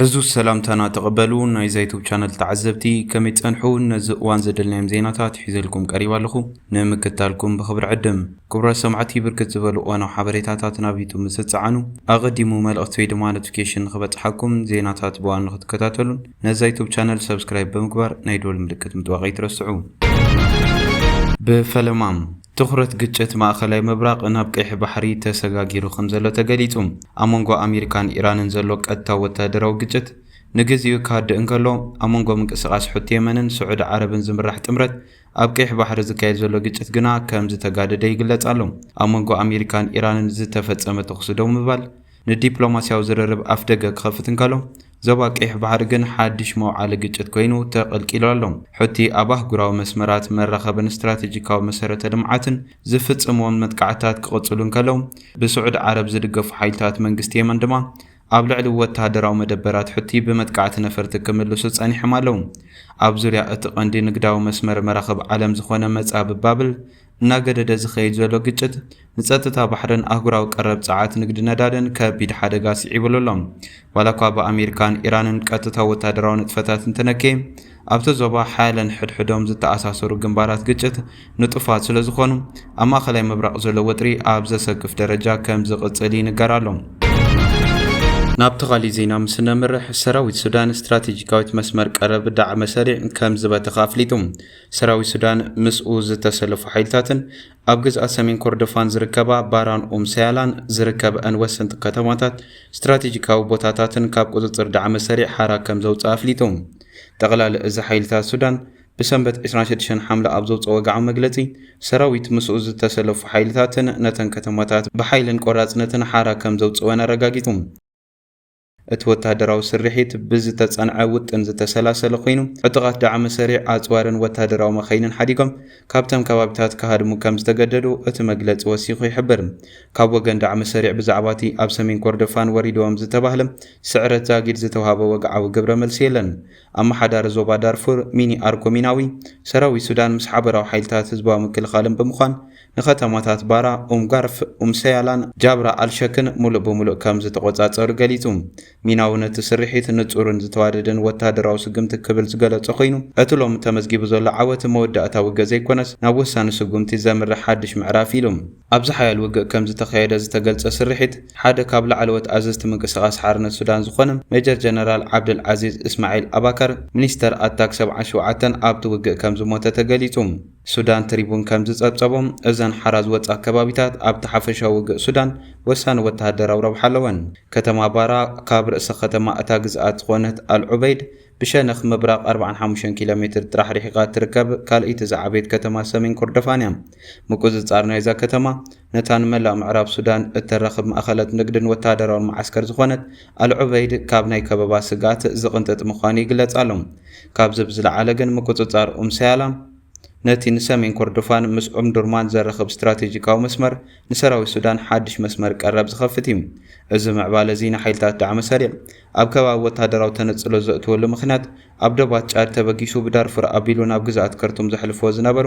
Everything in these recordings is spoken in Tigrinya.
ዕዙዝ ሰላምታና ተቐበሉ ናይዛ ዩቱብ ቻነል ተዓዘብቲ ከመይ ትጸንሑ ነዚ እዋን ዘደልናዮም ዜናታት ሒዘልኩም ቀሪብ ኣለኹ ንምክታልኩም ብኽብሪ ዕድም ክቡራት ሰማዕቲ ብርክት ዝበሉ እዋናዊ ሓበሬታታት ናብ ዩቱብ ምስ ትጸዓኑ ኣቐዲሙ መልእኽቲ ወይ ድማ ኖቲፊኬሽን ንኽበጽሓኩም ዜናታት ብዋን ንኽትከታተሉን ነዛ ዩቱብ ቻነል ሰብስክራይብ ብምግባር ናይ ደወል ምልክት ምጥዋቕ ኣይትረስዑ ብፈለማ ትኹረት ግጭት ማእኸላይ ምብራቕ ናብ ቀይሕ ባሕሪ ተሰጋጊሩ ከምዘሎ ተገሊፁ። ኣብ መንጎ ኣሜሪካን ኢራንን ዘሎ ቀጥታዊ ወታደራዊ ግጭት ንግዚኡ ክሃድእ እንከሎ፣ ኣብ መንጎ ምንቅስቓስ ሑቲ የመንን ስዑዲ ዓረብን ዝምራሕ ጥምረት ኣብ ቀይሕ ባሕሪ ዝካየድ ዘሎ ግጭት ግና ከምዝተጋደደ ይግለፅ ኣሎ። ኣብ መንጎ ኣሜሪካን ኢራንን ዝተፈፀመ ተኹሲ ደው ምባል ንዲፕሎማሲያዊ ዝርርብ ኣፍደገ ክኸፍት እንከሎ፣ ዞባ ቀይሕ ባሕሪ ግን ሓድሽ መውዓሊ ግጭት ኮይኑ ተቐልቂሉ ኣሎ። ሑቲ ኣብ ኣህጉራዊ መስመራት መራኸብን ስትራቴጂካዊ መሰረተ ልምዓትን ዝፍጽምዎም መጥቃዕትታት ክቕጽሉ እንከለው፣ ብስዑዲ ዓረብ ዝድገፉ ሓይልታት መንግስቲ የመን ድማ ኣብ ልዕሊ ወተሃደራዊ መደበራት ሑቲ ብመጥቃዕቲ ነፈርቲ ክምልሱ ጸኒሖም ኣለው። ኣብ ዙርያ እቲ ቀንዲ ንግዳዊ መስመር መራኽብ ዓለም ዝኾነ መጻብብ ባብል እናገደደ ዝኸይድ ዘሎ ግጭት ንጸጥታ ባሕርን ኣህጉራዊ ቀረብ ጸዓት ንግዲ ነዳድን ከቢድ ሓደጋ ስዒቡሉ ኣሎ። ዋላኳ ብኣሜሪካን ኢራንን ቀጥታዊ ወተሃደራዊ ንጥፈታት እንተነከየ፣ ኣብቲ ዞባ ሓያለን ሕድሕዶም ዝተኣሳሰሩ ግንባራት ግጭት ንጡፋት ስለዝኾኑ፣ ኣብ ማእከላይ ምብራቕ ዘሎ ወጥሪ ኣብ ዘሰክፍ ደረጃ ከም ዝቕጽል ይንገር ኣሎ። ናብቲ ካሊእ ዜና ምስ እነምርሕ፣ ሰራዊት ሱዳን ስትራቴጂካዊት መስመር ቀረብ ዳዕመ ሰሪዕ ከም ዝበተኸ ኣፍሊጡ። ሰራዊት ሱዳን ምስኡ ዝተሰለፉ ሓይልታትን ኣብ ግዝኣት ሰሜን ኮርዶፋን ዝርከባ ባራን ኡም ሰያላን ዝርከበአን ወሰንቲ ከተማታት ስትራቴጂካዊ ቦታታትን ካብ ቁፅፅር ዳዕመ ሰሪዕ ሓራ ከም ዘውፅኣ ኣፍሊጡ። ጠቕላሊ እዚ ሓይልታት ሱዳን ብሰንበት 26 ሓምለ ኣብ ዘውፅኦ ወግዓዊ መግለፂ ሰራዊት ምስኡ ዝተሰለፉ ሓይልታትን ነተን ከተማታት ብሓይልን ቆራፅነትን ሓራ ከም ዘውፅእወን ኣረጋጊፁ። እቲ ወተሃደራዊ ስርሒት ብዝተጸንዐ ውጥን ዝተሰላሰለ ኮይኑ፣ ዕጡቓት ዳዕመ-ሰሪዕ ኣጽዋርን ወተሃደራዊ መካይንን ሓዲጎም ካብቶም ከባቢታት ክሃድሙ ከም ዝተገደዱ እቲ መግለጺ ወሲኹ ይሕብር። ካብ ወገን ዳዕመ-ሰሪዕ ብዛዕባ'ቲ ኣብ ሰሜን ኮርዶፋን ወሪዱዎም ዝተባህለ ስዕረት ዛጊድ ዝተውሃበ ወግዓዊ ግብረ-መልሲ የለን። ኣመሓዳሪ ዞባ ዳርፉር ሚኒ ኣርኮ ሚናዊ፣ ሰራዊት ሱዳን ምስ ሓበራዊ ሓይልታት ህዝባዊ ምክልኻልን ብምዃን ንከተማታት ባራ፣ ኡም-ጋርፍ፣ ኡም-ሰያላን ጃብራ ኣል-ሸክን ምሉእ ብምሉእ ከም ዝተቖጻጸሩ ገሊጹ። ሚናዊ ነቲ ስርሒት ንጹርን ዝተዋደደን ወተሃደራዊ ስጉምቲ ክብል ዝገለጾ ኮይኑ፣ እቲ ሎሚ ተመዝጊቡ ዘሎ ዓወት መወዳእታ ውግእ ዘይኮነስ ናብ ወሳኒ ስጉምቲ ዘምርሕ ሓድሽ ምዕራፍ ኢዩ ኢሉ። ኣብዚ ሓያል ውግእ ከም ዝተኻየደ ዝተገልጸ ስርሒት፣ ሓደ ካብ ላዕለዎት ኣዘዝቲ ምንቅስቓስ ሓርነት ሱዳን ዝኾነ ሜጀር ጀነራል ዓብደል ዓዚዝ እስማዒል ኣባከር፣ ሚኒስተር ኣታክ ሰብዓን ሸውዓተን፣ ኣብቲ ውግእ ከም ዝሞተ ተገሊጹ። ሱዳን ትሪቡን ከም ዝጸብጸቦ፣ እዘን ሓራ ዝወጻ ከባቢታት ኣብቲ ሓፈሻዊ ውግእ ሱዳን ወሳኒ ወተሃደራዊ ረብሓ ኣለወን። ከተማ ባራ ካብ ርእሰ ከተማ እታ ግዝኣት ዝዀነት ኣል ዑበይድ ብሸነኽ ምብራቕ ኣርብዓን ሓሙሽተን ኪሎ ሜትር ጥራሕ ርሒቓ እትርከብ ካልኣይቲ ዝዓበየት ከተማ ሰሜን ኮርዶፋን እያ። ምቍጽጻር ናይዛ ከተማ፣ ነታ ንመላእ ምዕራብ ሱዳን እተራኽብ ማእኸለት ንግድን ወተሃደራውን መዓስከር ዝኾነት ኣል-ዑበይድ ካብ ናይ ከበባ ስግኣት ዝቕንጥጥ ምዃኑ ይግለጽ ኣሎ። ካብዚ ብዝለዓለ ግን ምቁጽጻር ኡም ሰያላም ነቲ ንሰሜን ኮርዶፋን ምስ ኦምዱርማን ዘራኽብ ስትራቴጂካዊ መስመር ንሰራዊት ሱዳን ሓድሽ መስመር ቀረብ ዝኸፍት እዩ። እዚ ምዕባለ'ዚ ንሓይልታት ዳዕመ ሰሪዕ ኣብ ከባቢ ወተሃደራዊ ተነጽሎ ዘእትወሉ ምኽንያት ኣብ ዶባት ጫድ ተበጊሱ ብዳርፉር ኣቢሉ ናብ ግዝኣት ከርቱም ዘሕልፍዎ ዝነበሩ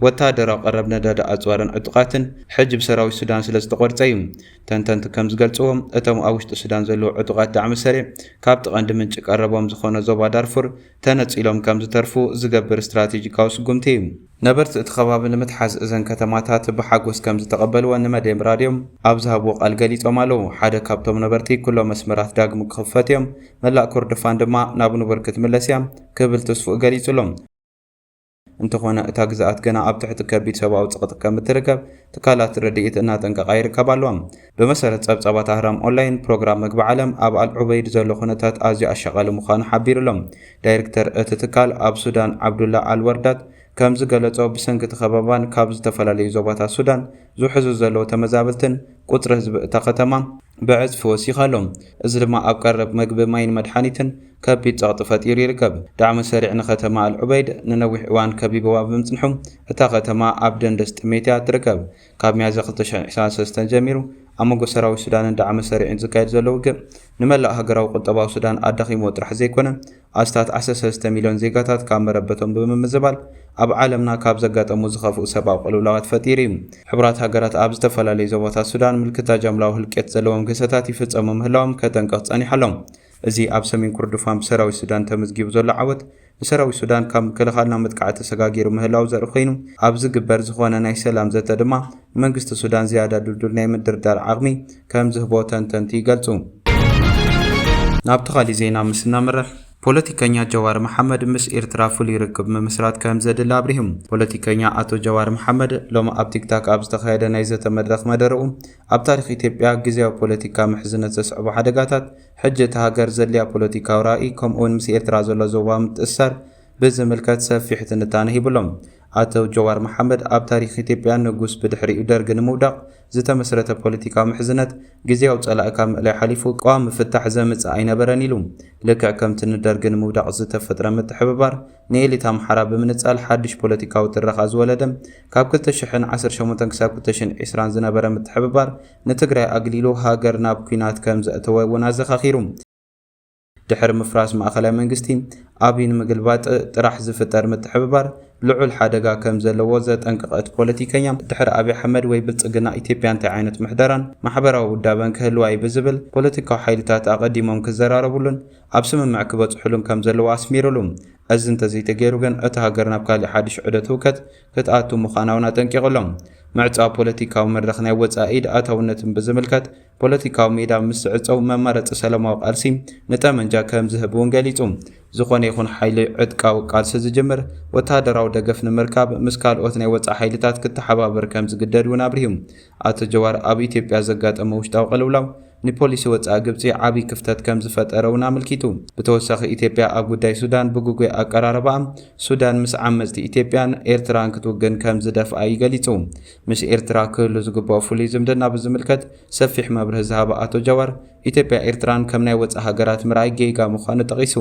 ወተሃደራዊ ቀረብ ነዳዲ ኣጽዋርን ዕጡቓትን ሕጂ ብሰራዊት ሱዳን ስለዝተቖርጸ'ዩ። ተንተንቲ ከምዝገልጽዎ እቶም ኣብ ውሽጢ ሱዳን ዘለዉ ዕጡቓት ዳዕመ-ሰሪዕ ካብቲ ቀንዲ ምንጪ ቀረቦም ዝኾነ ዞባ ዳርፉር ተነጺሎም ከምዝተርፉ ዝገብር ስትራቴጂካዊ ስጉምቲ'ዩ። ነበርቲ እቲ ከባቢ ንምትሓዝ እዘን ከተማታት ብሓጎስ ከምዝተቐበልወን ንመድየም ራድዮ ኣብ ዝሃብዎ ቃል ገሊፆም ኣለው። ሓደ ካብቶም ነበርቲ ኩሎም መስመራት ዳግም ክኽፈቱ እዮም፣ መላእ ኮርዶፋን ድማ ናብ ንቡር ክትምለስ እያ ክብል ትስፍኡ ገሊፁ'ሎ። እንተኾነ እታ ግዝኣት ገና ኣብ ትሕቲ ከቢድ ሰብኣዊ ፅቕጢ ከምትርከብ ትካላት ረድኢት እናጠንቀቓ ይርከባ ኣለዋ። ብመሰረት ጸብጻባት ኣህራም ኦንላይን፣ ፕሮግራም መግቢ ዓለም ኣብ ኣል ዑበይድ ዘሎ ኩነታት ኣዝዩ ኣሻቓሊ ምዃኑ ሓቢሩ'ሎ። ዳይርክተር እቲ ትካል ኣብ ሱዳን ዓብዱላ ኣል ወርዳት ከምዝገለጾ፣ ብሰንኪ'ቲ ከበባን ካብ ዝተፈላለዩ ዞባታት ሱዳን ዝውሕዙ ዘለዉ ተመዛበልትን፣ ቁጽሪ ህዝቢ እታ ከተማ ብዕጽፊ ወሲኹ ኣሎ። እዚ ድማ ኣብ ቀረብ መግቢ፣ ማይን መድሓኒትን ከቢድ ጸቕጢ ፈጢሩ ይርከብ። ዳዕመ ሰሪዕ ንከተማ ኣል ዑበይድ ንነዊሕ እዋን ከቢቡዋ ብምጽንሑ፣ እታ ከተማ ኣብ ደንደስ ጥሜት'ያ እትርከብ። ካብ ሚያዝያ ክልተ ሽሕን ዕስራን ሰለስተን ጀሚሩ ኣብ መንጎ ሰራዊት ሱዳንን ዳዕመ ሰሪዕን ዝካየድ ዘሎ ውግእ ንመላእ ሃገራዊ ቁጠባዊ ሱዳን ኣዳኺምዎ ጥራሕ ዘይኮነ ኣስታት ዓሰርተ ሰለስተ ሚልዮን ዜጋታት ካብ መረበቶም ብምምዝባል ኣብ ዓለምና ካብ ዘጋጠሙ ዝኸፍኡ ሰብኣዊ ቅልውላዋት ፈጢሩ እዩ። ሕቡራት ሃገራት ኣብ ዝተፈላለዩ ዞባታት ሱዳን ምልክታ ጃምላዊ ህልቂት ዘለዎም ግህሰታት ይፍፀሙ ምህላዎም ከጠንቅቕ ፀኒሑ ኣሎ። እዚ ኣብ ሰሜን ኩርዱፋን ብሰራዊት ሱዳን ተምዝጊቡ ዘሎ ዓወት ንሰራዊት ሱዳን ካብ ምክልኻል ናብ መጥቃዕቲ ተሰጋጊሩ ምህላው ዘርኢ ኮይኑ፣ ኣብ ዝግበር ዝኾነ ናይ ሰላም ዘተ ድማ ንመንግስቲ ሱዳን ዝያዳ ድልዱል ናይ ምድርዳር ዓቕሚ ከም ዝህቦ ተንተንቲ ይገልጹ። ናብቲ ካሊእ ዜና ምስ እነምርሕ፣ ፖለቲከኛ ጀዋር መሓመድ ምስ ኤርትራ ፍሉይ ርክብ ምምስራት ከም ዘድሊ ኣብሪሁ። ፖለቲከኛ ኣቶ ጀዋር መሓመድ ሎሚ ኣብ ቲክታክ ኣብ ዝተኻየደ ናይ ዘተ መድረኽ መደረኡ፣ ኣብ ታሪኽ ኢትዮጵያ ግዝያዊ ፖለቲካ ምሕዝነት ዘስዕቦ ሓደጋታት፣ ሕጂ እታ ሃገር ዘድልያ ፖለቲካዊ ራኢ ከምኡውን ምስ ኤርትራ ዘሎ ዞባዊ ምትእስሳር ብዝምልከት ሰፊሕ ትንታነ ሂቡ ኣሎ። ኣቶ ጀዋር መሓመድ ኣብ ታሪኽ ኢትዮጵያ ንጉስ ብድሕሪኡ ደርጊ ንምውዳቕ ዝተመስረተ ፖለቲካዊ ምሕዝነት ግዝያዊ ጸላኢ ካብ ምእላይ ሓሊፉ ቀዋሚ ፍታሕ ዘምጽእ ኣይነበረን ኢሉ። ልክዕ ከምቲ ንደርጊ ንምውዳቕ ዝተፈጥረ ምትሕብባር ንኤሊት ኣምሓራ ብምንጻል ሓድሽ ፖለቲካዊ ትረኻ ዝወለደ ካብ ክልተ ሽሕን ዓሰርተ ሸሞንተን ክሳብ ክልተ ሽሕን ዕስራን ዝነበረ ምትሕብባር ንትግራይ ኣግሊሉ ሃገር ናብ ኲናት ከም ዘእተወ እውን ኣዘኻኺሩ። ድሕሪ ምፍራስ ማእኸላይ መንግስቲ፣ ኣብይ ንምግልባጥ ጥራሕ ዝፍጠር ምትሕብባር ልዑል ሓደጋ ከም ዘለዎ ዘጠንቀቐ እቲ ፖለቲከኛ፣ ድሕሪ ኣብይ ኣሕመድ ወይ ብልፅግና ኢትዮጵያ እንታይ ዓይነት ምሕደራን ማሕበራዊ ውዳበን ክህልዋ እዩ ብዝብል ፖለቲካዊ ሓይልታት ኣቐዲሞም ክዘራረብሉን ኣብ ስምምዕ ክበፅሑሉን ከም ዘለዎ ኣስሚሩሉ። እዚ እንተዘይተገይሩ ግን እታ ሃገር ናብ ካሊእ ሓዱሽ ዑደት ህውከት ክትኣቱ ምዃና'ውን ኣጠንቂቕሎም። ምዕጻው ፖለቲካዊ መድረኽ ናይ ወጻኢ ኢድ ኣታውነትን ብዝምልከት፣ ፖለቲካዊ ሜዳ ምስ ዝዕጸው መማረጺ ሰለማዊ ቃልሲ ንጠመንጃ ከም ዝህብ'ውን ገሊጹ። ዝኾነ ይኹን ሓይሊ ዕጥቃዊ ቃልሲ ዝጅምር፣ ወተሃደራዊ ደገፍ ንምርካብ ምስ ካልኦት ናይ ወጻኢ ሓይልታት ክተሓባበር ከም ዝግደድ'ውን ኣብሪሁ። ኣቶ ጀዋር ኣብ ኢትዮጵያ ዘጋጠመ ውሽጣዊ ቅልውላው ንፖሊሲ ወጻኢ ግብጺ ዓቢ ክፍተት ከም ዝፈጠረ'ውን ኣመልኪቱ። ብተወሳኺ ኢትዮጵያ ኣብ ጉዳይ ሱዳን ብግጉይ ኣቀራርባኣ፣ ሱዳን ምስ ዓመጽቲ ኢትዮጵያን ኤርትራን ክትውግን ከም ዝደፍኣ'ዩ ገሊጹ። ምስ ኤርትራ ክህሉ ዝግበኦ ፍሉይ ዝምድና ብዝምልከት ሰፊሕ መብርሂ ዝሃበ ኣቶ ጀዋር፣ ኢትዮጵያ ኤርትራን ከም ናይ ወጻኢ ሃገራት ምርኣይ ጌጋ ምዃኑ ጠቒሱ።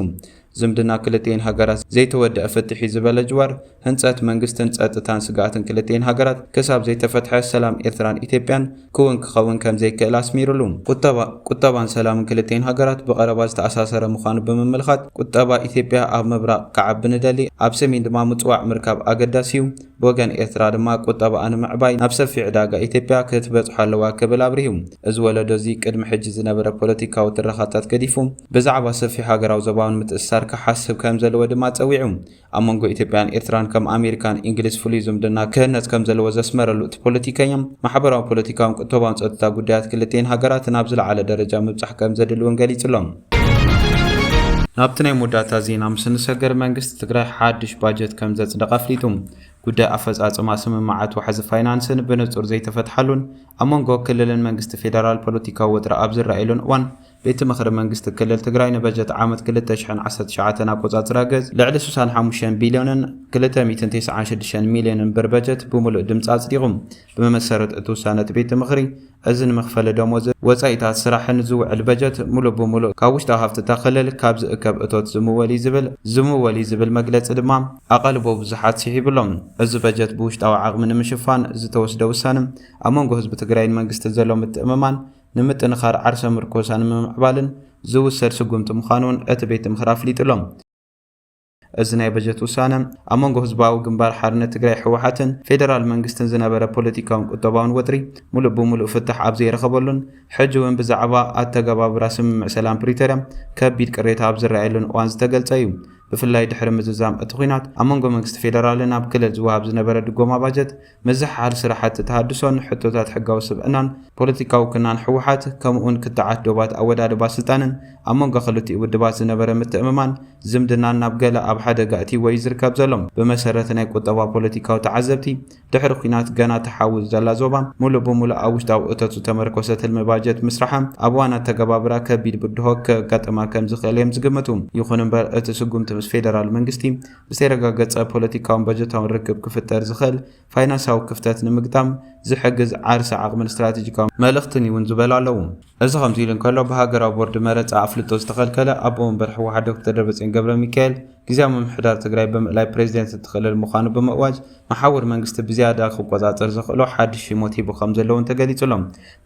ዝምድና ክልቲኤን ሃገራት ዘይተወደኣ ፍትሕ'ዩ ዝበለ ጅዋር፣ ህንጸት መንግስትን ጸጥታን ስግኣትን ክልቲኤን ሃገራት ክሳብ ዘይተፈትሐ ሰላም ኤርትራን ኢትዮጵያን ክውን ክኸውን ከምዘይክእል ኣስሚርሉ። ቁጠባ፣ ቁጠባን ሰላምን ክልቲኤን ሃገራት ብቐረባ ዝተኣሳሰረ ምዃኑ ብምምልኻት፣ ቁጠባ ኢትዮጵያ ኣብ ምብራቕ ክዓቢ ንደሊ፣ ኣብ ሰሜን ድማ ምጽዋዕ ምርካብ ኣገዳሲ'ዩ፣ ብወገን ኤርትራ ድማ ቁጠባኣ ንምዕባይ ናብ ሰፊሕ ዕዳጋ ኢትዮጵያ ክትበጽሖ ኣለዋ ክብል ኣብሪሁ። እዚ ወለዶ እዚ ቅድሚ ሕጂ ዝነበረ ፖለቲካዊ ትረኻታት ገዲፉ ብዛዕባ ሰፊሕ ሃገራዊ ዞባውን ምትእስሳር ክሓስብ ከምዘለዎ ድማ ጸዊዑ። ኣብ መንጎ ኢትዮጵያን ኤርትራን ከም ኣሜሪካን ኢንግሊዝ ፍሉይ ዝምድና ክህነጽ ከምዘለዎ ዘስመረሉ እቲ ፖለቲከኛ፣ ማሕበራዊ ፖለቲካውን ቁተባውን ጸጥታ ጉዳያት ክልቲኤን ሃገራት ናብ ዝለዓለ ደረጃ ምብጻሕ ከምዘድሊ እውን ገሊጹ'ሎ። ናብቲ ናይ መወዳእታ ዜና ምስ እንሰገር መንግስቲ ትግራይ ሓድሽ ባጀት ከም ዘጽደቐ ኣፍሊጡ። ጉዳይ ኣፈጻጽማ ስምምዓት ዋሕዚ ፋይናንስን ብንጹር ዘይተፈትሓሉን ኣብ መንጎ ክልልን መንግስቲ ፌደራል ፖለቲካዊ ወጥሪ ኣብ ዝረኣየሉን እዋን ቤት ምኽሪ መንግስቲ ክልል ትግራይ ንበጀት ዓመት 2019 ኣቆጻጽራ ገጽ ልዕሊ 65 ቢልዮንን 296 ሚልዮንን ብር በጀት ብምሉእ ድምጺ ኣጽዲቑ። ብመሰረት እቲ ውሳነ እቲ ቤት ምኽሪ፣ እዚ ንመኽፈሊ ደሞዝን ወፃኢታት ስራሕን ዝውዕል በጀት ሙሉእ ብሙሉእ ካብ ውሽጣዊ ሃፍቲ እታ ክልል ካብ ዝእከብ እቶት ዝምወል እዩ ዝብል ዝምወል እዩ ዝብል መግለፂ ድማ ኣቓልቦ ብዙሓት ስሒቡ ኣሎ። እዚ በጀት ብውሽጣዊ ዓቕሚ ንምሽፋን ዝተወስደ ውሳነ ኣብ መንጎ ህዝቢ ትግራይን መንግስትን ዘሎ ምትእምማን ንምጥንኻር ዓርሰ ምርኮሳ ንምምዕባልን ዝውሰድ ስጉምቲ ምዃኑ እውን እቲ ቤት ምኽሪ ኣፍሊጡ ኣሎ። እዚ ናይ በጀት ውሳነ ኣብ መንጎ ህዝባዊ ግንባር ሓርነት ትግራይ ህወሓትን ፌደራል መንግስትን ዝነበረ ፖለቲካውን ቁጠባውን ወጥሪ ሙሉእ ብሙሉእ ፍታሕ ኣብ ዘይረኸበሉን ሕጂ እውን ብዛዕባ ኣተገባብራ ስምምዕ ሰላም ፕሪቶርያ ከቢድ ቅሬታ ኣብ ዝረኣየሉን እዋን ዝተገልፀ እዩ። ብፍላይ ድሕሪ ምዝዛም እቲ ኹናት ኣብ መንጎ መንግስቲ ፌደራልን ኣብ ክልል ዝወሃብ ዝነበረ ድጎማ ባጀት ምዝሕሓል ስራሕቲ ተሃድሶን ሕቶታት ሕጋዊ ስብዕናን ፖለቲካዊ ክናን ህወሓት ከምኡውን ክትዓት ዶባት ኣወዳድባ ስልጣንን ኣብ መንጎ ክልቲኡ ውድባት ዝነበረ ምትእምማን ዝምድናን ናብ ገለ ኣብ ሓደጋ እትይዎ እዩ ዝርከብ ዘሎ። ብመሰረት ናይ ቁጠባ ፖለቲካዊ ተዓዘብቲ ድሕሪ ኲናት ገና ትሓውስ ዘላ ዞባ ሙሉእ ብሙሉእ ኣብ ውሽጣዊ እቶት ዝተመርኮሰ ትልሚ ባጀት ምስራሓ ኣብ እዋን ኣተገባብራ ከቢድ ብድሆ ከጋጥማ ከምዝኽእል እዮም ዝግምቱ። ይኹን እምበር እቲ ስጉምቲ ምስ ፌደራል መንግስቲ ዝተረጋገጸ ፖለቲካውን በጀታውን ርክብ ክፍጠር ዝኽእል ፋይናንሳዊ ክፍተት ንምግጣም ዝሕግዝ ዓርሰ ዓቕምን ስትራቴጂካዊ መልእኽትን እዩ'ውን ዝበሉ ኣለዉ። እዚ ከምዚ ኢሉ እንከሎ፣ ብሃገራዊ ቦርድ መረጻ ኣፍልጦ ዝተኸልከለ ኣቦ ወንበር ህወሓት ዶክተር ደብረጽዮን ገብረሚካኤል፣ ግዝያዊ ምምሕዳር ትግራይ ብምእላይ ፕሬዚደንት እቲ ክልል ምዃኑ ብምእዋጅ፣ መሓውር መንግስቲ ብዝያዳ ክቆጻጸር ዘኽእሎ ሓድሽ ሽሞት ሂቡ ከምዘሎ'ውን ተገሊጹ'ሎ።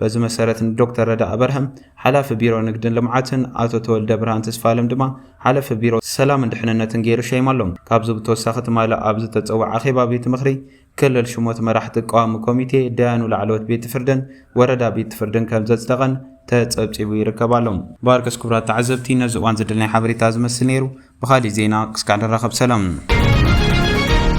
በዚ መሰረት ንዶክተር ረዳኢ በርሀ ሓላፊ ቢሮ ንግድን ልምዓትን፣ ኣቶ ተወልደብርሃን ተስፋኣለም ድማ ሓለፊ ቢሮ ሰላምን ድሕንነትን ገይሩ ሸይማሎም። ካብዚ ብተወሳኺ ትማሊ ኣብ ዝተፀወዐ ኣኼባ ቤት ምኽሪ ክልል ሽሞት መራሕቲ ቀዋሚ ኮሚቴ፣ ዳያኑ ላዕለዎት ቤት ፍርድን ወረዳ ቤት ፍርድን ከምዘፅደቐን ተፀብፂቡ ይርከብ ኣሎ። ባርከስ ክቡራት ተዓዘብቲ ነዚ እዋን ዝድል ናይ ሓበሬታ እዚ መስል ነይሩ ብኻሊእ ዜና ክስካዕ ንራኸብ ሰላም።